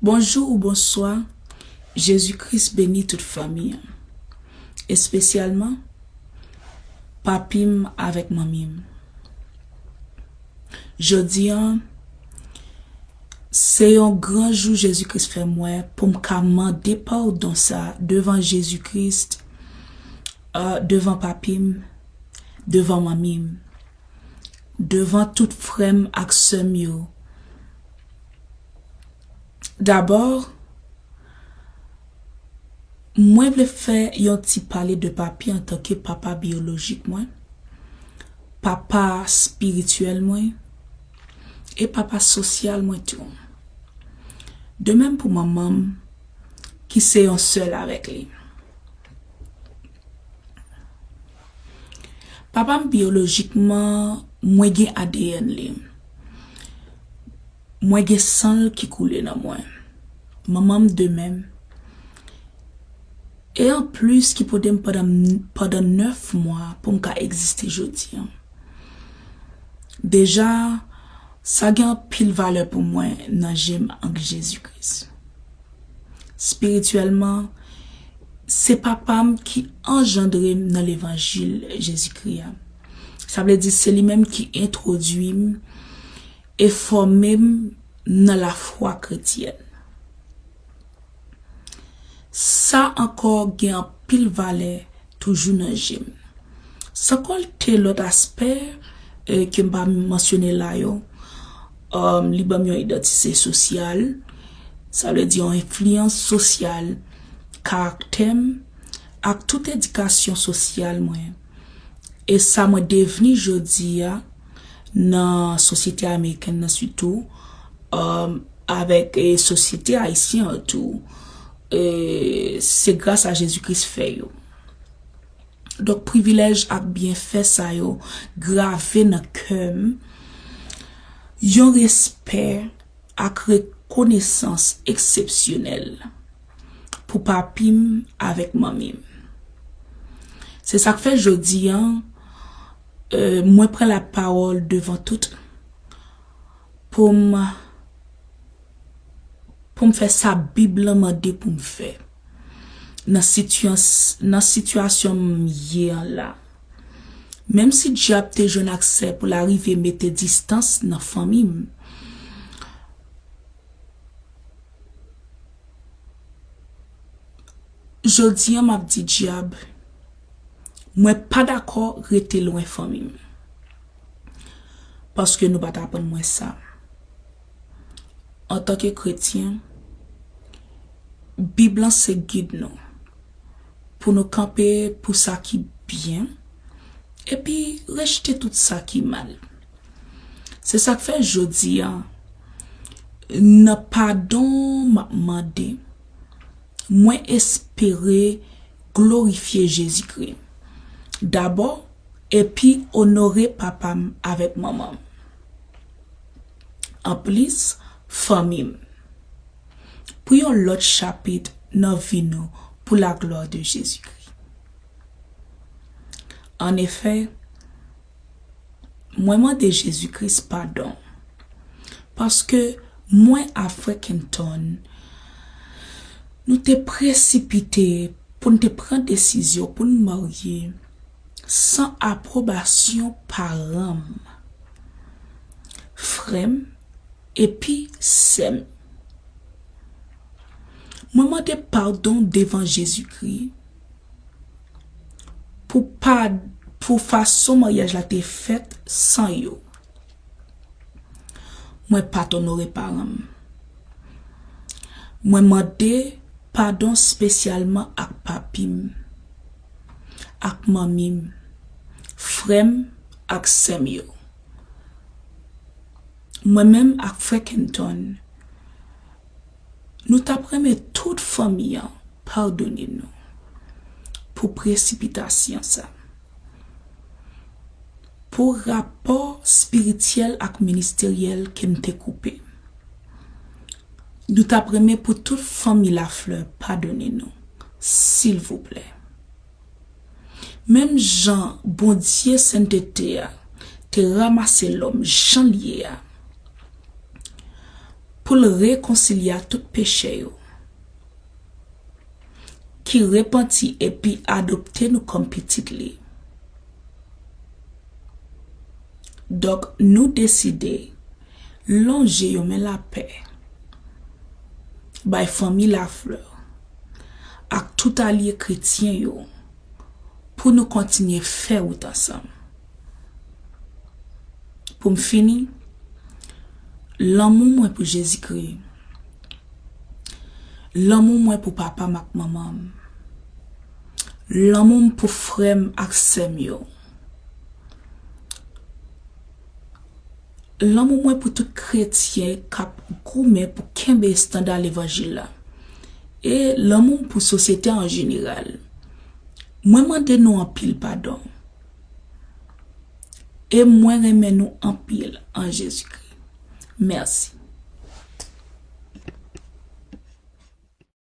Bonjou ou bonswa jezi kris beni tout fanmi an espesyalman papi m avèk manmi m jodi an se yon gran jou jezi kris fè m wè pou m ka mande padon sa devan jezi kris devan papi m devan manmi m. devan tout frè m ak sè m yo dabò mwen vle fè yon ti pale de papi antanke papa biyolojik mwen papa spirityèl mwen e papa sosyal mwen tou de menm pou manman m ki se yon sèl avèk li. Papa m biyolojikman, mwen gen adn li. Mwen gen san l ki koule nan mwen. Manman m de menm. E an plis ki pote m pandan 9 mwa pou m ka egziste jodi an. Deja sa gen anpil valè pou mwen nan je m ank Jezi Kris. Spirityèlman, se Papa m ki anjandre m nan levanjil Jezikri a. Sa vle di se li menm ki entwodui m e fòme m nan lafwa kretyèn. Sa ankò gen anpil valè Toujou nan je m. San konte lòt aspè ke m pa mansyone la yo. Li ban m yon idantite sosyal, sa vle di yon enfliyans sosyal karaktè m ak tout edikasyon sosyal mwen e sa mwen devni jodi a. nan sosyete amerikèn nan sitou, avèk sosyete ayisyen an tou, se gras a Jezi Kris fè yo. Donk privilèj ak byenfè sa yo grave nan kè m yon respè ak rekonesans eksepsyonèl pou papi m avèk manmi m. Se sa k fè jodi an, Mwen pran la pawol devan tout poum poum fè sa bib lan mande poum fè nan sitians nan sitiyasyon m ye an la menm si dyab te jwenn aksè pou l arive mete distans nan fanmi m jodi an map di dyab Mwen pa dakò rete lwen fanmi m. Paske nou pa t aprann mwen sa. Antanke kretyen, Bib lan se gid nou pou nou kanpe pou sa ki byen epi rejte tout sa ki mal. Se sa k fè jodi a, nan padon m ap mande Mwen espere glorifye Jezikri dabò epi onore papa m avèk manman m. Anplis, fanmi m. Pou yon lòt chapit nan vi nou pou laglwa de Jezikri. Annefè, Mwen mande Jezi Kris padon paske mwen a frè Kenton nou te presipite pou n te pran desizyon pou n marye san apwobasyon paran m, frè m epi sè m. Mwen mande padon devan Jezi Kris. Pou pa pou fason maryaj la te fèt san yo. Mwen pat onore paran m. Mwen mande padon spesyalman ak papi m, ak manmi m, frè m ak sè m yo. Mwen menm ak frè Kenton. Nou tap renmen tout fanmi an padone nou pou presipitasyon sa. Pou rapò spirityèl ak ministeryèl ke m te koupe. Nou tap renmen pou tout fanmi Lafleur padone nou silvouplè. Menm jan Bondye sentete a te ramase lòm jan l ye a pou l rekonsilya tout pechè yo, ki repanti epi adopte nou kòm pitit li, donk nou deside lonje yon men lapè bay fanmi Lafleur. ak tout alye kretyen yo pou nou kontinye fè wout ansanm. Pou m fini, lanmou mwen pou Jezikri, lanmou mwen pou papa m ak manman m, lanmou m pou frè m ak sè m yo, Lanmou mwen pou tout kretyen k ap goumen pou kenbe estanda levanjil la, e lanmou m pou sosyete a an jeneral, mwen mande nou anpil padon. E mwen renmen nou anpil an Jezikri. Mèsi.